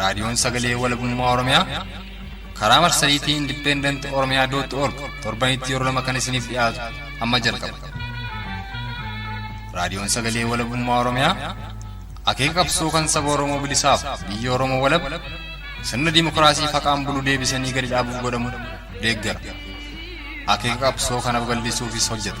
raadiyoon sagalee walabummaa oromiyaa karaa marsariitii indipendent oromiyaa dootti org torbanitti yeroo lama kan isiniif dhiyaatu amma jalqaba raadiyoon sagalee walabummaa oromiyaa akeeka qabsoo kan saba oromoo bilisaaf biyya oromoo walab sirna dimokiraasii faqaan bulu deebisanii gadi dhaabuuf godhamu deeggara akeeka qabsoo kana babal'isuufis hojjeta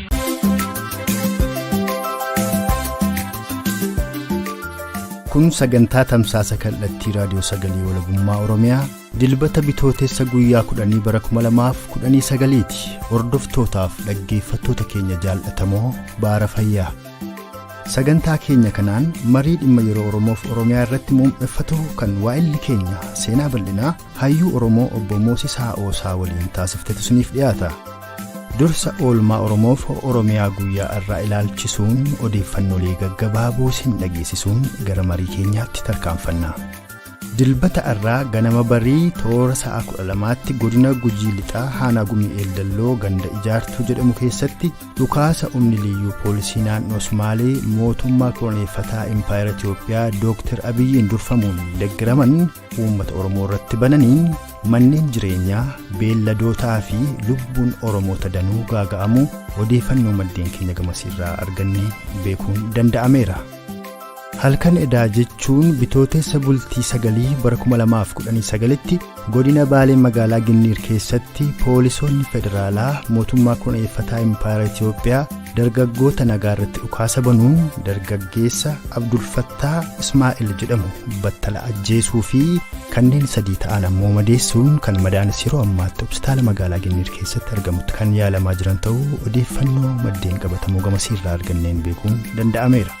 kun sagantaa tamsaasa kallattii raadiyoo sagalee walabummaa oromiyaa dilbata bitootessa guyyaa 10 bara 2019 ti hordoftootaaf dhaggeeffattoota keenya jaallatamoo baara fayyaa sagantaa keenya kanaan marii dhimma yeroo oromoof oromiyaa irratti muummeffatu kan waa'illi keenya seenaa bal'inaa Hayyuu Oromoo Obbo Moosis Haa'oosaa waliin taasiftetu isiniif dhiyaata. Dursa oolmaa Oromoof Oromiyaa guyyaa irraa ilaalchisuun odeeffannoolee gaggabaaboo isin dhageessisuun gara marii keenyaatti tarkaanfanna. Dilbata irraa ganama barii toora sa'a 12tti godina Gujii Lixaa Haanaa Gumii Eeldalloo ganda ijaartuu jedhamu keessatti dhukaasa humni liyyuu poolisii naannoo Sumaalee mootummaa koloneeffataa Impaayera Itoophiyaa Dooktar Abiyyiin durfamuun deggeraman uummata Oromoo irratti bananiin manneen jireenyaa beelladootaa fi lubbuun Oromoota danuu gaaga'amuu odeeffannoo maddeen keenya gamasiirraa arganne beekuun danda'ameera. Halkan edaa jechuun bitootessa bultii sagalii bara 2019tti godina Baalee magaalaa Ginniir keessatti poolisoonni federaalaa mootummaa koloneeffataa Impaayera Itoophiyaa dargaggoota nagaa irratti dhukaasa banuun dargaggeessa abdulfattaa ismaa'il jedhamu battala ajjeesuu fi kanneen sadii ta'an ammoo madeessuun kan madaanis yeroo ammaatti hospitaala magaalaa ginniir keessatti argamutti kan yaalamaa jiran ta'uu odeeffannoo maddeen qabatamoo gamasiirraa arganneen beekuun danda'ameera.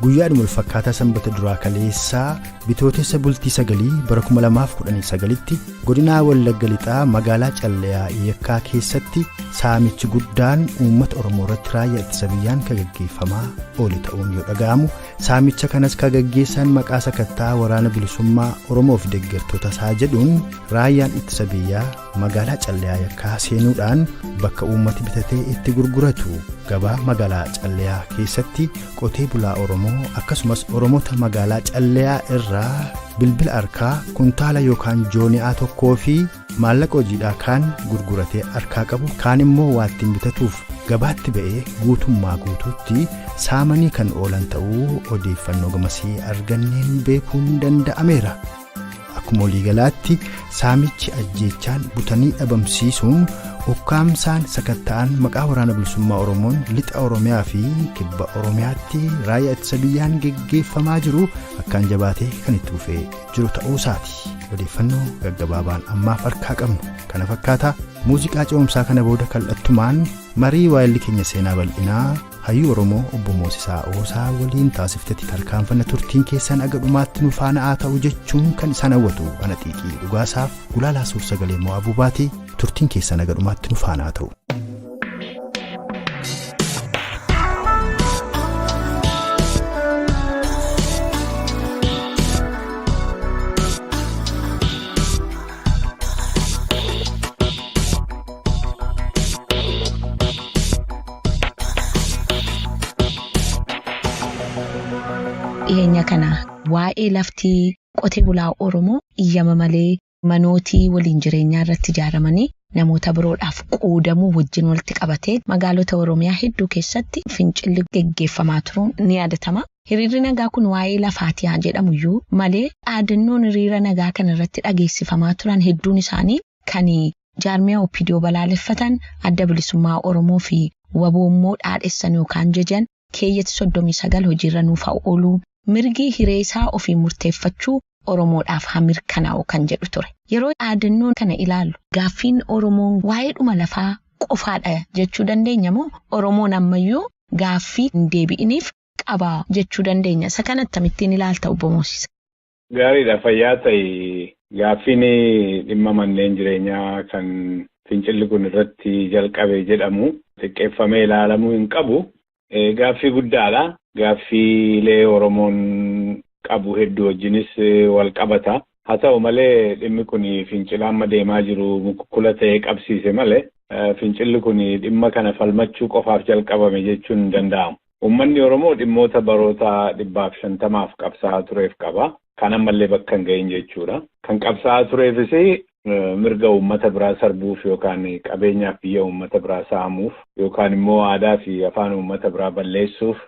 guyyaadhuma walfakkaataa sanbata duraa kaleessaa bitootessa bultii sagalii bara 2019tti Godinaa Wallagga Lixaa magaalaa Calleyaa Yekkaa keessatti saamichi guddaan uummata Oromoo irratti raayyaa ittisa biyyaan kan gaggeeffamaa oole ta'uun yoo dhaga'amu saamicha kanas kan gaggeessan maqaa sakattaa waraana bilisummaa Oromoo fi deeggartoota isaa jedhuun raayyaan ittisa biyyaa magaalaa Calleyaa Yekkaa seenuudhaan bakka uummati bitatee itti gurguratu gabaa magaalaa Calleyaa keessatti Qotee bulaa Oromoo akkasumas Oromoota magaalaa Calleyaa irraa bilbila harkaa kuntaala yookaan jooni'aa tokkoo fi maallaqa hojiidhaa kaan gurguratee harkaa qabu kaan immoo waattiin bitatuuf gabaatti ba'ee guutummaa guutuutti saamanii kan oolan ta'uu odeeffannoo gamasii arganneen beekuun danda'ameera. Akkuma waliigalaatti saamichi ajjeechaan butanii dhabamsiisuun ukkaamsaan sakatta'an maqaa waraana bilisummaa Oromoon lixa Oromiyaa fi kibba Oromiyaatti raayyaa ittisa biyyaan geggeeffamaa jiru akkaan jabaatee kan itti fufee jiru ta'uu isaati. Odeeffannoo gaggabaabaan ammaaf harkaa qabnu kana fakkaata muuziqaa ce'umsaa kana booda kallattumaan marii waa'elli keenya seenaa bal'inaa Hayyuu Oromoo obbo Moosisaa Oosaa waliin taasiftetti tarkaanfanna turtiin keessan aga dhumaatti nu faana'aa ta'u jechuun kan isaan hawwatu ana xiiqii dhugaasaaf gulaalaa suur sagalee moo abuubaati turtiin keessan aga dhumaatti nu faana'aa ta'u. dhiyeenya kana waa'ee laftii qotee bulaa Oromoo iyyama malee manootii waliin jireenyaa irratti ijaaramanii namoota biroodhaaf qoodamuu wajjin walitti qabatee magaalota Oromiyaa hedduu keessatti fincilli geggeeffamaa turuun ni yaadatama. Hiriirri nagaa kun waa'ee lafaatii haa jedhamu iyyuu malee dhaadannoon hiriira nagaa kana irratti dhageessifamaa turan hedduun isaanii kan jaarmiyaa opdo balaaleffatan, Adda Bilisummaa Oromoo fi wbo immoo dhaadhessan yookaan jajan, keeyyati 39 hojiirra nuuf haa oolu, mirgi hiree isaa ofiin murteeffachuu Oromoodhaaf haa mirkanaa'u kan jedhu ture. Yeroo dhaadannoo kana ilaallu gaaffiin Oromoon waa'eedhuma lafaa qofaadha jechuu dandeenya moo Oromoon ammayyuu gaaffii hin deebi'iniif qaba jechuu dandeenya? Isa kana attamittiin ilaalta Obbo Moosisa? Gaariidha fayyaa ta'i. Gaaffiin dhimma manneen jireenyaa kan fincilli kun irratti jalqabe jedhamu xiqqeeffamee ilaalamuu hin qabu. Gaaffii guddaadha. Gaaffiilee Oromoon qabu hedduu wajjinis wal qabata. Haa ta'u malee dhimmi kun fincila amma deemaa jiru mukukkula ta'ee qabsiise malee fincilli kun dhimma kana falmachuu qofaaf jalqabame jechuun hin danda'amu. Uummanni Oromoo dhimmoota baroota dhibbaaf shantamaaf qabsaa'aa tureef qaba. Kan ammallee bakka hin gahin jechuudha. Kan qabsaa'aa tureefis mirga uummata biraa sarbuuf yookaan qabeenyaaf biyya uummata biraa saamuuf yookaan immoo aadaa fi afaan uummata biraa balleessuuf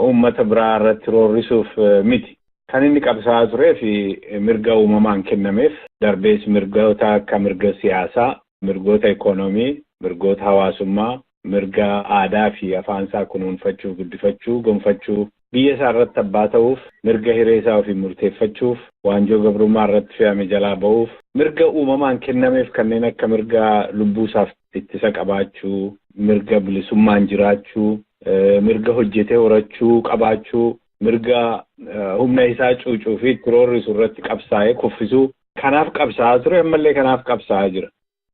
uummata biraa irratti roorrisuuf miti. Kan inni qabsaa'aa turee fi mirga uumamaan kennameef darbees mirgoota akka mirga siyaasaa, mirgoota ikoonoomii, mirgoota hawaasummaa, mirga aadaa fi afaan isaa kunuunfachuu, guddifachuu, gonfachuu, biyya isaa irratti abbaa ta'uuf, mirga hiree isaa ofiin murteeffachuuf, waanjoo gabrummaa irratti fe'ame jalaa ba'uuf, mirga uumamaan kennameef kanneen akka mirga lubbuu isaaf ittisa qabaachuu, mirga bilisummaan jiraachuu, mirga hojjetee horachuu qabaachuu, mirga humna isaa cuucuu fi itti roorrisu irratti qabsaa'ee kuffisuu kanaaf qabsaa'aa ture, ammallee kanaaf qabsaa'aa jira.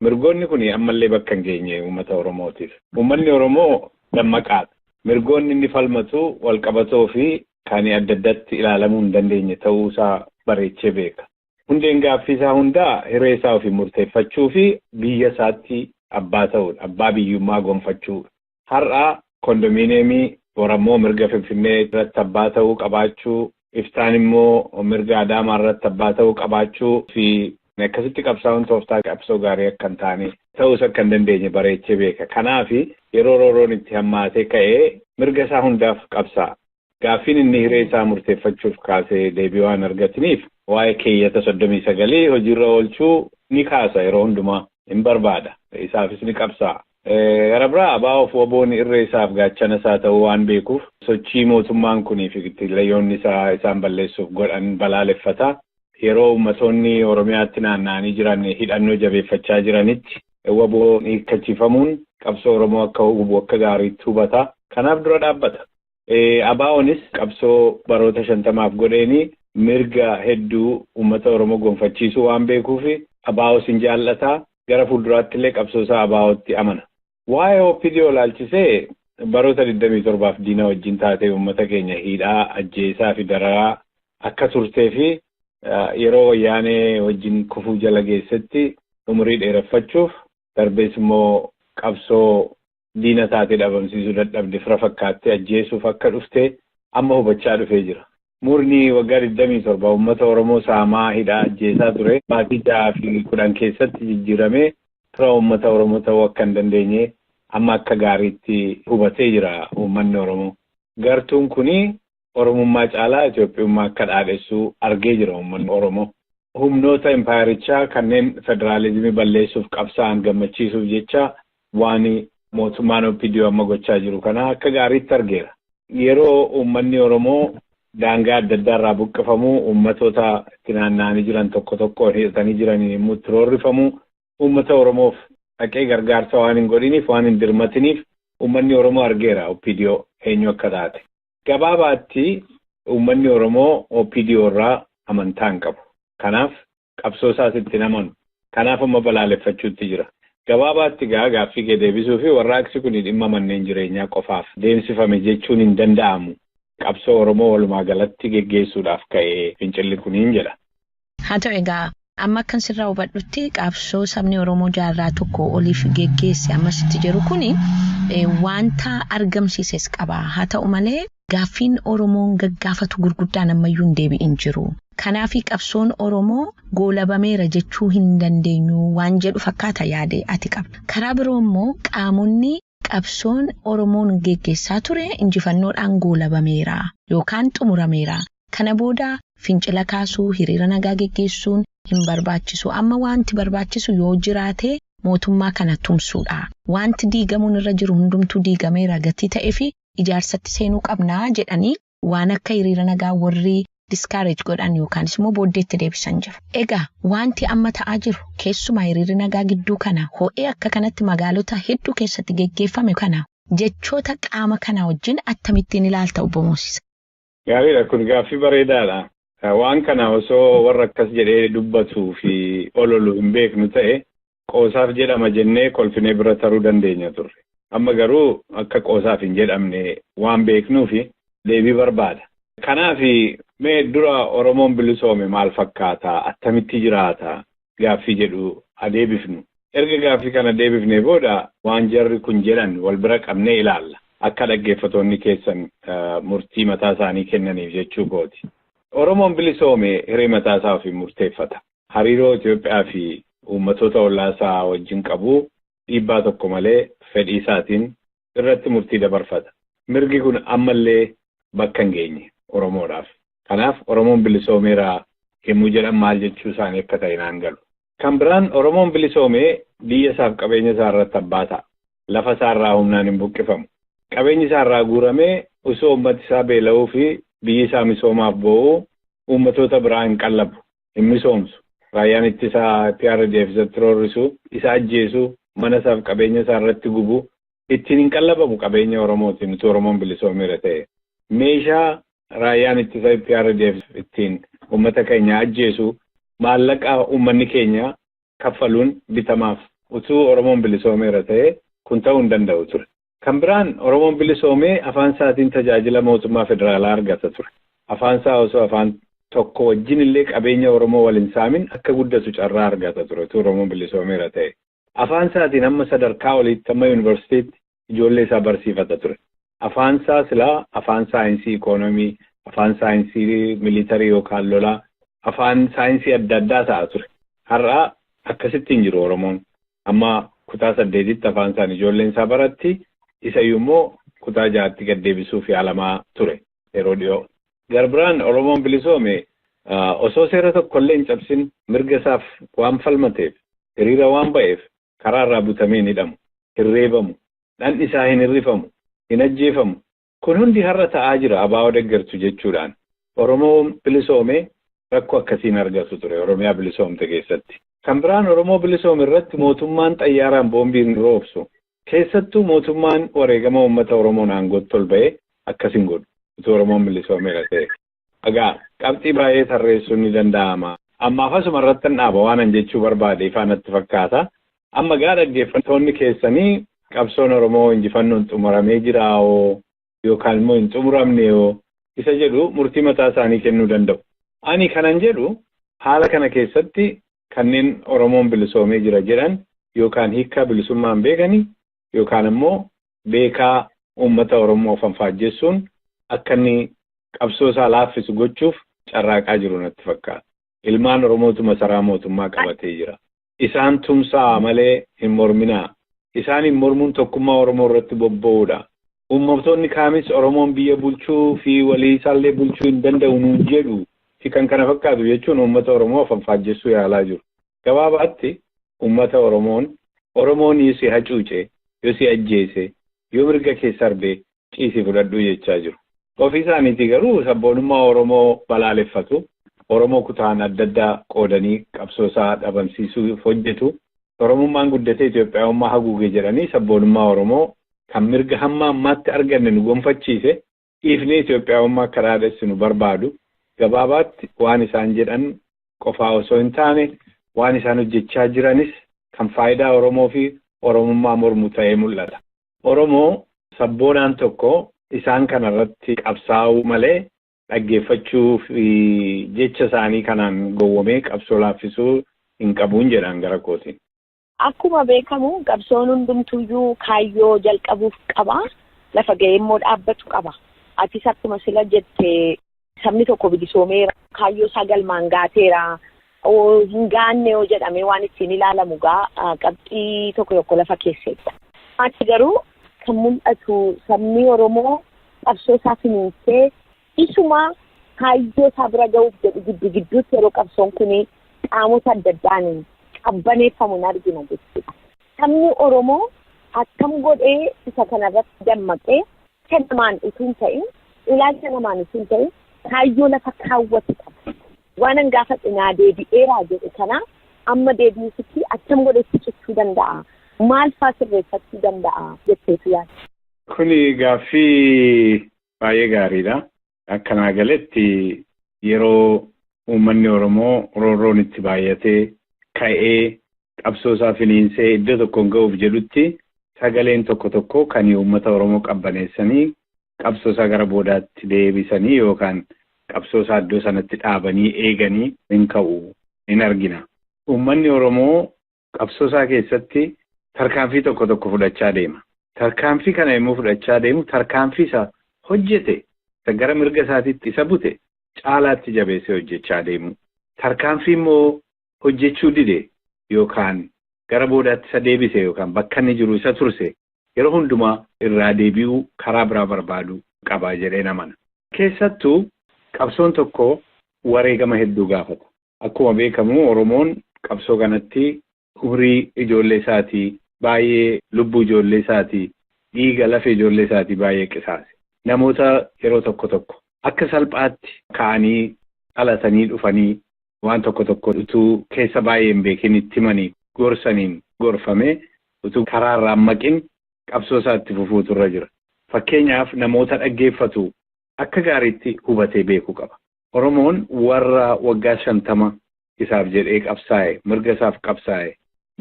Mirgoonni kun ammallee bakka hin geenye uummata Oromootiif. Uummanni Oromoo dammaqaadha. Mirgoonni inni falmatu walqabatoo fi kan adda addatti ilaalamuu hin dandeenye ta'uu isaa bareechee beeka. Hundeen gaaffii isaa hundaa hiree isaa ofiin murteeffachuu fi biyya isaatti abbaa ta'uudha, abbaa biyyummaa gonfachuudha. Har'a kondominiyeemii, borammoo mirga Finfinnee irratti abbaa ta'uu qabaachuu, iftaan immoo mirga Adaamaa irratti abbaa ta'uu qabaachuu fi akkasitti qabsaa'uun tooftaa qabsoo gaarii akka hin taane, ta'uus akka hin dandeenye bareechee beeka. Kanaaf yeroo roorroon itti hammaatee ka'e mirga isaa hundaaf qabsaa'a. Gaaffiin inni hiree isaa murteeffachuuf kaase deebii waan hin argatiniif waa'ee keeyyata 39 hojiirra oolchuu ni kaasa yeroo hundumaa hin barbaada. Isaafis ni qabsaa'a. Gara biraa abo fi wboon irree isaaf gaachana isaa ta'uu waan beekuuf sochii mootummaan kunii fi kittiillayyoonni isaa isaan balleessuuf godhan balaaleffata. Yeroo ummatoonni Oromiyaatti naanna'anii jiran hidhannoo jabeeffachaa jiranitti wboon hiikkachiifamuun qabsoo Oromoo akka hubu akka gaariitti hubata. Kanaaf dura dhaabbata. ABOnis qabsoo baroota shantamaaf godheeni mirga hedduu ummata Oromoo gonfachiisuu waan beekuufi ABOs hin jaal'ata, gara fuulduraattillee qabsoosaa ABOtti amana. Waa'ee OPDO ilaalchisee baroota 27f diina wajjin taatee ummata keenya hiidhaa, ajjeesaafi dararaa akka turteefi yeroo Wayyaanee wajjin kufuu jala geessetti umurii dheereffachuuf darbees immoo qabsoo diina taate dhabamsiisuu dadhabde fira fakkaattee ajjeesuuf akka dhufte amma hubachaa dhufee jira. Murni waggaa 27 uummata Oromoo saamaa, hidhaa, ajjeesaa ture baatii 6 fi 10 keessatti jijjiiramee fira uummata Oromoo ta'uu akka hin dandeenye amma akka gaariitti hubatee jira uummanni Oromoo. Gartuun kuni Oromummaa caalaa Itoophiyummaa akka dhaadhessu argee jira uummanni Oromoo. Humnoota impaayerichaa kanneen federaalizimii balleessuuf qabsaa'an gammachiisuuf jecha waan mootummaan OPDO amma gochaa jiru kana akka gaariitti argeera. Yeroo uummanni Oromoo daangaa adda addaa irraa buqqifamu, uummatoota itti naanna'anii jiran tokko tokkoon hidhatanii jiraniin yommuu itti roorrifamu, uummata Oromoof dhaqee gargaarsa waan hin godhiniif, waan hin dirmatiniif uummanni Oromoo argeera OPDO eenyu akka taate. Gabaabaatti uummanni Oromoo OPDO irraa amantaa hin qabu. Kanaaf qabsoo isaas itti hin amanu. Kanaaf amma balaaleffachuutti jira. Gabaabaatti egaa gaaffii kee deebisuufi warraaqsi kuni dhimma manneen jireenyaa qofaaf deemsifame jechuun hin danda'amu. Qabsoo Oromoo walumaa galatti geggeessuudhaaf ka'e fincilli kuniin jedha. Haa ta'u egaa, amma akkan sirraa hubadhutti qabsoo sabni Oromoo jaarraa tokkoo oliif geggeesse ammas itti jiru kuni wanta argamsiises qaba. Haa ta'u malee, gaaffiin Oromoon gaggaafatu gurguddaan ammayyuu hin deebi'in jiru. Kanaafi qabsoon Oromoo goolabameera jechuu hin dandeenyu waan jedhu fakkaata yaadi ati qabdu. Karaa biroo immoo qaamonni Qabsoon Oromoon geggeessaa ture injifannoodhaan goolabameera yookaan xumurameera. Kana booda fincila kaasuu, hiriira nagaa geggeessuun hin barbaachisu. Amma waanti barbaachisu yoo jiraate mootummaa kana tumsuudha. Waanti diigamuun irra jiru hundumtuu diigameera gatii ta'eefi ijaarsatti seenuu qabna jedhanii. waan akka hiriira nagaa warri discourage godhan yookaanis immoo booddeetti deebisan jiru. Egaa wanti amma ta'aa jiru keessumaa hiriirri nagaa gidduu kana ho'ee akka kanatti magaalota hedduu keessatti geggeeffame kana jechoota qaama kanaa wajjin attamittiin ilaalta obbo Moosisa? Gaariidha kun gaaffii bareedaadha. Waan kana osoo warra akkas jedhee dubbatuu fi ololu hin beeknu ta'e qoosaaf jedhama jennee kolfinee bira taruu dandeenya turre. Amma garuu akka qoosaaf hin jedhamne waan beeknuufi deebii barbaada. Kanaafi mee dura Oromoon bilisoome maal fakkaata, attamitti jiraata gaaffii jedhu haa deebifnu. Erga gaaffii kana deebifnee booda waan jarri kun jedhan wal bira qabnee ilaalla. Akka dhaggeeffatoonni keessan murtii mataa isaanii kennaniif jechuu kooti. Oromoon bilisoome hiree mataa isaa ofiin murteeffata. hariiroo Itoophiyaa fi uummatoota ollaa isaa wajjin qabu dhiibbaa tokko malee fedhii isaatiin irratti murtii dabarfata. Mirgi kun amma illee bakka hin geenye Oromoodhaaf. Kanaaf Oromoon bilisoomeera yemmuu jedhan maal jechuu isaanii akka ta'e naan galu. Kan biraan Oromoon bilisoome biyya isaaf qabeenya isaa irratti abbaa ta'a. Lafa isaa irraa humnaan hin buqqifamu. Qabeenyi isaa irraa guuramee usoo uummati isaa beela'uu fi biyyi isaa misoomaaf boo'uu uummatoota biraa hin qallabu. hin misoomsu. Raayyaan ittisa eprdf isatti roorrisu, isa ajjeesu, mana isaaf qabeenya isaa irratti gubu, ittiin hin qallabamu qabeenya Oromootiin utuu Oromoon bilisoomeera ta'ee. Meeshaa raayyaan ittisa eprdf ittiin uummata keenya ajjeesu maallaqa uummanni keenya kaffaluun bitamaaf. Utuu Oromoon bilisoomeera ta'ee kun ta'uu hin danda'u ture. Kan biraan Oromoon bilisoomee afaan isaatiin tajaajila mootummaa federaalaa argata ture. Afaan isaa osoo afaan tokko wajjin illee qabeenya Oromoo wal hin saamin akka guddatu carraa argata ture utuu Oromoon bilisoomeera ta'e. Afaan isaatiin hamma sadarkaa oliitti hamma yunivarsitiitti ijoollee isaa barsiifata ture. Afaan isaa silaa afaan saayinsii ikoonomii, afaan saayinsii militarii yookaan lolaa, afaan saayinsii adda addaa ta'a ture. Har'a akkasitti hin jiru Oromoon. Amma kutaa saddeetitti afaan isaan ijoolleen isaa baratti. Isayyuu immoo kutaa ja'atti gad deebisuuf yaalamaa ture yeroo dhiyoo. Gara biraan Oromoon bilisoome osoo seera tokko illee hin cabsin mirga isaaf waan falmateef, hiriira waan ba'eef karaa irraa butamee hin hidhamu, hin reebamu, dhandhi isaa hin hir'ifamu, hin ajjeefamu, Kun hundi har'a ta'aa jira abo deggertu jechuudhaan Oromoo bilisoome rakko akkasii hin argatu ture Oromiyaa bilisoomte keessatti. Kan biraan Oromoo bilisoome irratti mootummaan xayyaaraan boombii hin roobsu. Keessattuu mootummaan wareegama uummata Oromoon aangootti ol ba'ee akkas hin godhu. Utuu Oromoon bilisoomeera ta'ee. Egaa, qabxii baay'ee tarreessuun ni danda'ama. Ammaaf asuma irrattan dhaaba. Waanan jechuu barbaade ifaa natti fakkaata. Amma egaa dhaggeeffattoonni keessanii qabsoon Oromoo injifannoon xumuramee jiraa hoo yookaan immoo hin xumuramnee hoo isa jedhu murtii mataa isaanii kennuu danda'u. Ani kanan jedhu haala kana keessatti kanneen Oromoon bilisoomee jira jedhan yookaan hiikkaa bilisummaa hin beekani yookaan ammoo beekaa uummata Oromoo fanfaajjessuun akka inni qabsoo isaa laaffisu gochuuf carraaqaa jiru natti fakkaata. Ilmaan Oromootu masaraa mootummaa qabatee jira. Isaan tumsaa'a malee hin morminaa. Isaaniin mormuun tokkummaa Oromoo irratti bobba'uudha. Uummatoonni kaanis Oromoon biyya bulchuu fi walii isaallee bulchuu hin danda'u nuun jedhu fi kan kana fakkaatu jechuun uummata Oromoo afanfaajjessuu yaalaa jiru. Gabaabaatti ummata Oromoon Oromoon yo si hacuuce, yo si ajjeese, yo mirga kee sarbe ciisii fudhadhu jechaa jiru. Ofii isaaniitii garuu sabboonummaa Oromoo balaaleffatu, Oromoo kutaan adda addaa qoodanii qabsoo isaa dhabamsiisuuf hojjetu, Oromummaan guddatee Itoophiyaawummaa haguuge jedhanii sabboonummaa Oromoo kan mirga hamma ammaatti arganne nu gonfachiise Dhiifnee Itoophiyaawummaa akka dhaadhessinu barbaadu. Gabaabaatti waan isaan jedhan qofaa osoo hin taane waan isaan hojjechaa jiranis kan faayidaa Oromoo fi Oromummaa mormu ta'ee mul'ata. Oromoo sabboonaan tokko isaan kana irratti qabsaa'uu malee dhaggeeffachuu fi jecha isaanii kanaan gowwomee qabsoo laaffisuu hin qabuun jedhaan gara kootiin. Akkuma beekamu qabsoon hundumtuuyyuu kaayyoo jalqabuuf qaba. Lafa ga'ee immoo dhaabbatu qaba. Atis akkuma sila jette sabni tokko bilisoomeera. Kaayyoo isaa galmaan gaateera. Hin gaanne yoo jedhamee waan ittiin ilaalamu gaa qabxii tokko tokko lafa keesseetta. Achi garuu kan mul'atu sabni Oromoo qabsoo isaa finiinsee Isumaa kaayyoo isaa bira gahuuf jedhu giddu gidduutti yeroo qabsoon kun qaamota adda addaan qabbaneeffamu hin argina jechuudha. Sabni Oromoo akkam godhee isa kana irratti dammaqee fedha namaan utuu hin ta'in, ilaalcha namaan utuu hin ta'in kaayyoo lafa kaawwate qaba. Waanan gaafadhe naa deebi'eeraa jedhe kana amma deebi'uufitti akkam godhee itti cichuu danda'a? Maal faa sirreeffachuu danda'a jetteetu yaadda? Kuni gaaffii Baay'ee gaariidha. Akka naa galetti yeroo uummanni Oromoo roorroon itti baay'atee ka'ee qabsoo isaa finiinsee iddoo tokkoon ga'uuf jedhutti sagaleen tokko tokko kan uummata Oromoo qabbaneessanii qabsoo isaa gara boodaatti deebisanii yookaan qabsoo isaa iddoo sanatti dhaabanii eeganii hin ka'u hin argina. Uummanni Oromoo qabsoo isaa keessatti tarkaanfii tokko tokko fudhachaa deema. Tarkaanfii kana yommuu fudhachaa deemu tarkaanfii isa hojjete isa gara mirga isaatiitti isa bute caalaatti jabeessee hojjechaa deemu. Tarkaanfii immoo hojjechuu dide yookaan gara boodaatti isa deebise yookaan bakka inni jiru isa turse yeroo hundumaa irraa deebi'uu karaa biraa barbaadu qaba jedhee namana. Keessattuu qabsoon tokko wareegama hedduu gaafata. Akkuma beekamu Oromoon qabsoo kanatti umrii ijoollee isaatii baay'ee, lubbuu ijoollee isaatii, dhiiga lafee ijoollee isaatii baay'ee qisaase. Namoota yeroo tokko tokko akka salphaatti ka'anii dhalatanii dhufanii waan tokko tokko utuu keessa baay'ee hin beekin itti himanii gorsaniin gorfamee utuu karaa irraa hin maqin qabsoo isaa itti fufuutu irra jira. Fakkeenyaaf namoota dhaggeeffatu akka gaariitti hubatee beekuu qaba. Oromoon warra waggaa shantama isaaf jedhee qabsaa'e, mirga isaaf qabsaa'e,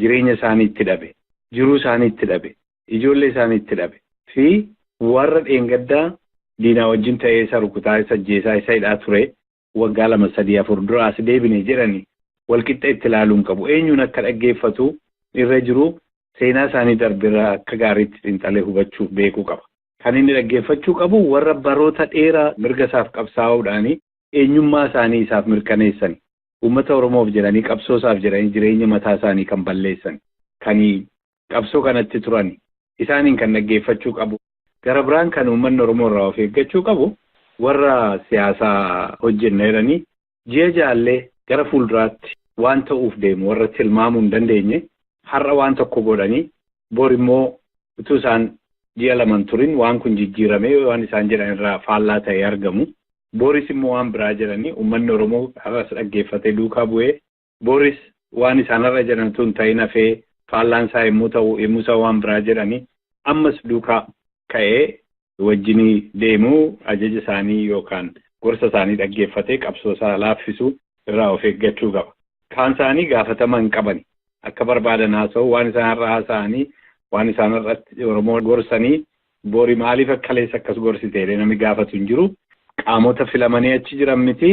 jireenya isaanii itti dhabe, jiruu isaanii itti dhabe, ijoollee isaanii itti dhabe fi warra dheengadda diinaa wajjin ta'ee isa rukutaa, isa ajjeesaa, isa hidhaa ture waggaa lama, sadii, afur dura as deebine jedhani walqixxa itti ilaaluu hin qabu. Eenyuun akka dhaggeeffatu irra jiru seenaa isaanii darbe irraa akka gaariitti xiinxalee hubachuuf beekuu qaba. Kan inni dhaggeeffachuu qabu warra baroota dheeraa mirga isaaf qabsaa'uudhaan eenyummaa isaanii isaaf mirkaneessani. Uummata Oromoof jedhanii, qabsoo isaaf jedhanii jireenya mataa isaanii kan balleessani. Kan qabsoo kanatti turani. Isaaniin kan dhaggeeffachuu qabu. Gara biraan kan uummanni Oromoo irraa of eeggachuu qabu warra siyaasa hojjenna jedhanii Ji'a jaallee gara fuulduraatti waan ta'uuf deemu warra tilmaamuu hin dandeenye har'a waan tokko godhanii bor immoo utuu isaan ji'a lama hin turin waan kun jijjiiramee waan isaan jedhan irraa faallaa ta'ee argamu. Boris immoo waan biraa jedhanii uummanni Oromoo har'as dhaggeeffatee duukaa bu'ee boris waan isaan har'a jedhan tun ta'in hafee faallaan isaa yommuu ta'u yommuu isaa waan biraa jedhanii ammas duukaa ka'ee wajjinii deemuu ajaja isaanii yookaan gorsa isaanii dhaggeeffatee qabsoo isaa laaffisuu irraa of eeggachuu qaba. Kaan isaanii gaafatama hin qabani. Akka barbaadan haasa'u waan isaan har'a haasa'anii waan isaan har'atti Oromoo gorsanii bori maaliif akkaleessa akkas gorsiteedha namni gaafatu hin jiru. Qaamota filamanii achi jiran miti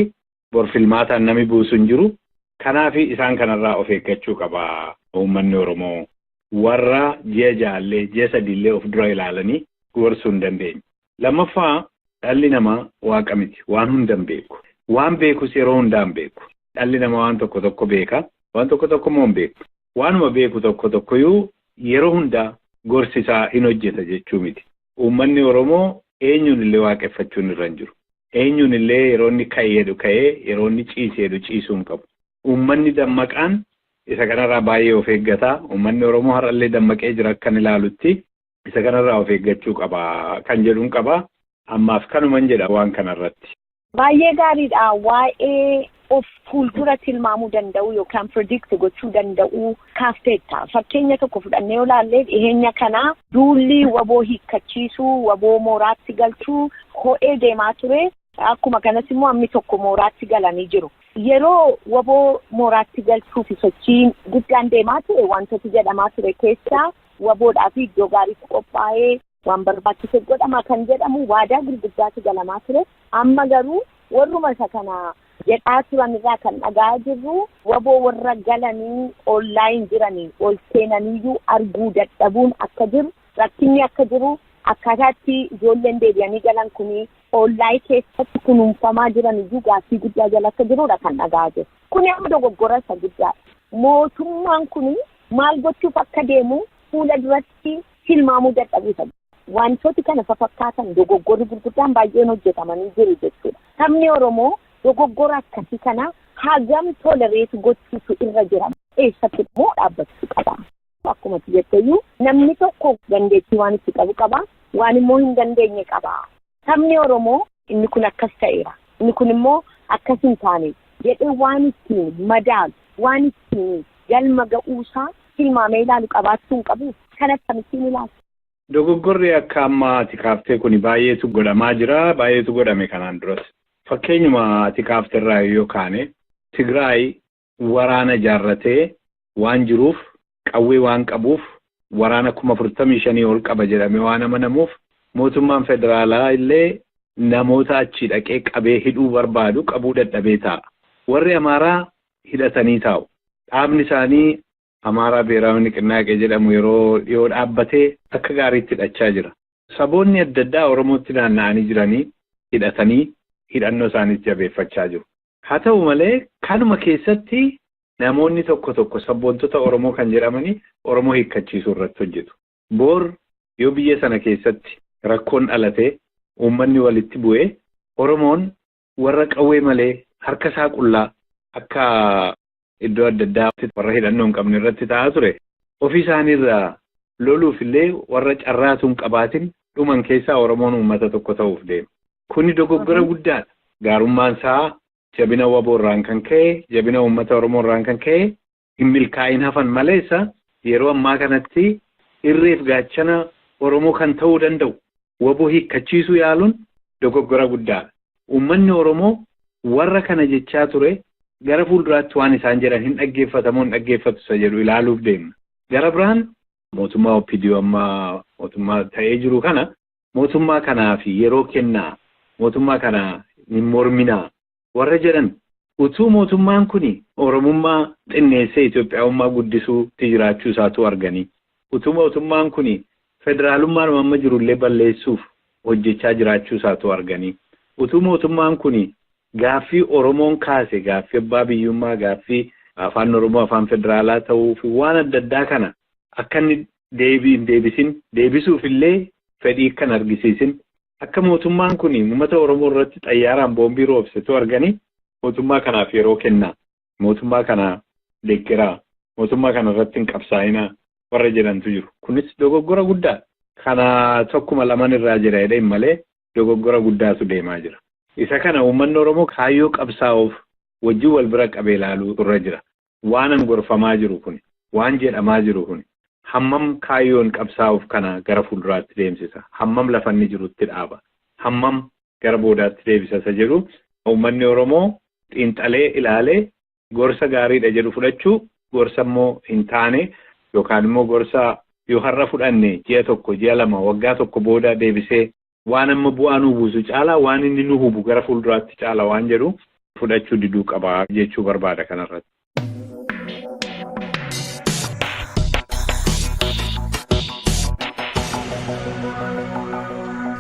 bor filmaataan nami buusu hin jiru. Kanaaf isaan kanarraa of eeggachuu qaba uummanni Oromoo. Warra ji'a ja'allee, ji'a sadiillee of dura ilaalanii gorsuu hin dandeenye. Lammaffaa dhalli namaa waaqa miti. Waan hunda hin beeku. Waan beekus yeroo hundaa hin beeku. Dhalli namaa waan tokko tokko beeka. Waan tokko tokko immoo hin beeku. Waanuma beeku tokko tokkoyyuu yeroo hundaa gorsi isaa hin hojjeta jechuu miti. Uummanni Oromoo eenyuun illee waaqeffachuun irra hin jiru. Eenyuun illee yeroo inni ka'i jedhu ka'ee, yeroo inni ciisi jedhu ciisuu hin qabu. Uummanni dammaqaan isa kanarraa baay'ee of eeggata. Uummanni Oromoo har'a illee dammaqee jira akkan ilaalutti. Isa kanarraa of eeggachuu qaba kan jedhun qaba. Ammaaf kanuman jedha waan kanarratti. Baay'ee gaariidha. Waa'ee of fuuldura tilmaamuu danda'uu yookaan predict gochuu danda'uu kaafteetta. Fakkeenya tokko fudhannee yoo ilaalle dhiheenya kana duulli waboo hiikkachiisuu, waboo mooraatti galchuu ho'ee deemaa ture. Akkuma kanas immoo ammi tokko mooraatti galanii jiru. Yeroo waboo mooraatti galchuu fi sochiin guddaan deemaa ture wantooti jedhamaa ture keessaa waboodhaa fi iddoo gaariitu qophaa'ee Waan barbaachise godhama kan jedhamu waadaa gurguddaatu galamaa ture. Amma garuu warruma isa kana jedhaa turan irraa kan dhaga'aa jirru waboo warra galanii online jiranii ol seenaniyyuu arguu dadhabuun akka jiru rakkinni akka jiru akkaataatti ijoolleen deebi'anii galan kun online keessatti kunuunfamaa jiraniyyuu gaaffii guddaa jala akka jirudha kan dhaga'aa jiru. Kuni amma dogoggora isa guddaadha. Mootummaan kun maal gochuuf akka deemu fuula duratti tilmaamuu dadhabuu isa. Wantooti kana fafakkaatan dogoggorri gurguddaan baay'een hojjetamanii jiru jechuudha. Sabni Oromoo dogoggora akkasii kana hagam tolerate gochuutu irra jira? Eessatti immoo dhaabbachuu qaba? Akkuma ati jetteyyuu namni tokko dandeettii waan itti qabu qaba, waan immoo hin dandeenye qaba. Sabni Oromoo inni kun akkas ta'eera, inni kun immoo akkas hin taane jedhee waan ittiin madaalu, waan ittiin galma ga'uusaa tilmaamee ilaalu qabaachuu hin qabuu? Kana akkamittiin ilaalta? Dogoggorri akka amma ati kaaftee kuni baay'eetu godhamaa jira, baay'eetu godhame kanaan duras. Fakkeenyuma ati kaafterraa yoo kaane, Tigraay waraana ijaarratee waan jiruuf, qawwee waan qabuuf, waraana kuma 45 ol qaba jedhamee waan amanamuuf mootummaan federaalaa illee namoota achii dhaqee qabee hidhuu barbaadu qabuu dadhabee taa'a. Warri Amaaraa hidhatanii taa'u. Dhaabni isaanii Amaaraa Biheraawi Niqinnaaqee jedhamu yeroo dhiyoo dhaabbatee akka gaariitti hidhachaa jira. Saboonni adda addaa Oromootti naanna'anii jiranii hidhatanii hidhannoo isaaniis jabeeffachaa jiru. Haa ta'u malee kanuma keessatti namoonni tokko tokko sabboontota Oromoo kan jedhamanii Oromoo hiikkachiisuu irratti hojjetu. Boor yoo biyya sana keessatti rakkoon dhalatee uummanni walitti bu'ee Oromoon warra qawwee malee harka isaa qullaa akka iddoo adda addaa warra hidhannoo hin qabne irratti ta'aa ture ofii isaaniirraa loluuf illee warra carraatu hin qabaatin dhuman keessaa Oromoon uummata tokko ta'uuf deema. Kuni dogoggora guddaadha. Gaarummaan isaa jabina waboo irraan kan ka'e, jabina uummata Oromoo irraan kan ka'e hin milkaa'iin hafan maleessa yeroo ammaa kanatti irreef gaachana Oromoo kan ta'uu danda'u wbo hiikkachiisuu yaaluun dogoggora guddaadha. Uummanni Oromoo warra kana jechaa ture gara fuulduraatti waan isaan jedhan hin dhaggeeffata moo hin dhaggeeffatu isa jedhu ilaaluuf deemna. Gara biraan mootummaa OPDO amma mootummaa ta'ee jiru kana mootummaa kanaaf yeroo kennaa, mootummaa kana hin morminaa, warra jedhan utuu mootummaan kuni Oromummaa xinneessee Itoophiyaawummaa guddisuu tti jiraachuu isaa utuu arganii, utuu mootummaan kuni federaalummaadhuma amma jiru illee balleessuuf hojjechaa jiraachuu isaa utuu arganii, utuu mootummaan kuni gaaffii Oromoon kaase, gaaffii abbaa biyyummaa, gaaffii Afaan Oromoo Afaan Federaalaa ta'uu fi waan adda addaa kana akka inni deebii hin deebisin, deebisuuf illee fedhii akka hin argisiisin akka mootummaan kun ummata Oromoo irratti xayyaaraan boombii roobsetu argani mootummaa kanaaf yeroo kennaa, mootummaa kana deggeraa, mootummaa kana irratti hin qabsaa'inaa warra jedhantu jiru. Kunis dogoggora guddaadha. Kana tokkuma laman irraa jira jedhee hin malee dogoggora guddaatu deemaa jira. Isa kana ummanni Oromoo kaayyoo qabsaa'uuf wajjin wal bira qabee ilaaluutu irra jira. waanan gorfamaa jiru kuni, waan jedhamaa jiru kuni hammam kaayyoon qabsaa'uuf kana gara fuulduraatti deemsisa, hammam lafa inni jirutti dhaaba, hammam gara boodaatti deebisa isa jedhu uummanni Oromoo xiinxalee ilaalee gorsa gaariidha jedhu fudhachuu, gorsa immoo hin taane yookaan immoo gorsa yoo har'a fudhanne ji'a tokko, ji'a lama, waggaa tokko booda deebisee waan amma bu'aa nuu buusu caalaa waan inni nu hubu gara fuulduraatti caala waan jedhu fudhachuu diduu qaba jechuu barbaada kanarratti.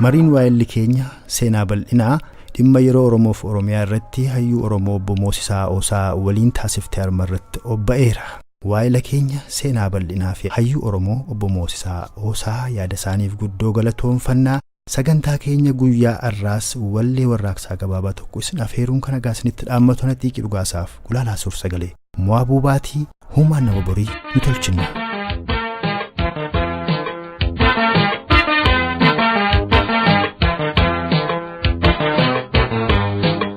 Mariin waa'elli keenya seenaa bal'inaa dhimma yeroo Oromoof Oromiyaa irratti hayyuu Oromoo obbo Moosisaa Oosaa waliin taasifte arma irratti obba'eera. Waayila keenya seenaa bal'inaa fi hayyuu Oromoo Obbo Moosisaa Oosaa yaada isaaniif guddoo galatoomfanna. Sagantaa keenya guyyaa arraas wallee warraaqsaa gabaabaa tokko isin afeeruun kan hagaa isinitti dhaammatu ana Xiiqii Dhugaasaaf gulaalaa suur sagalee Mo'aa Buubaatii huumaan nama borii ni tolchinna.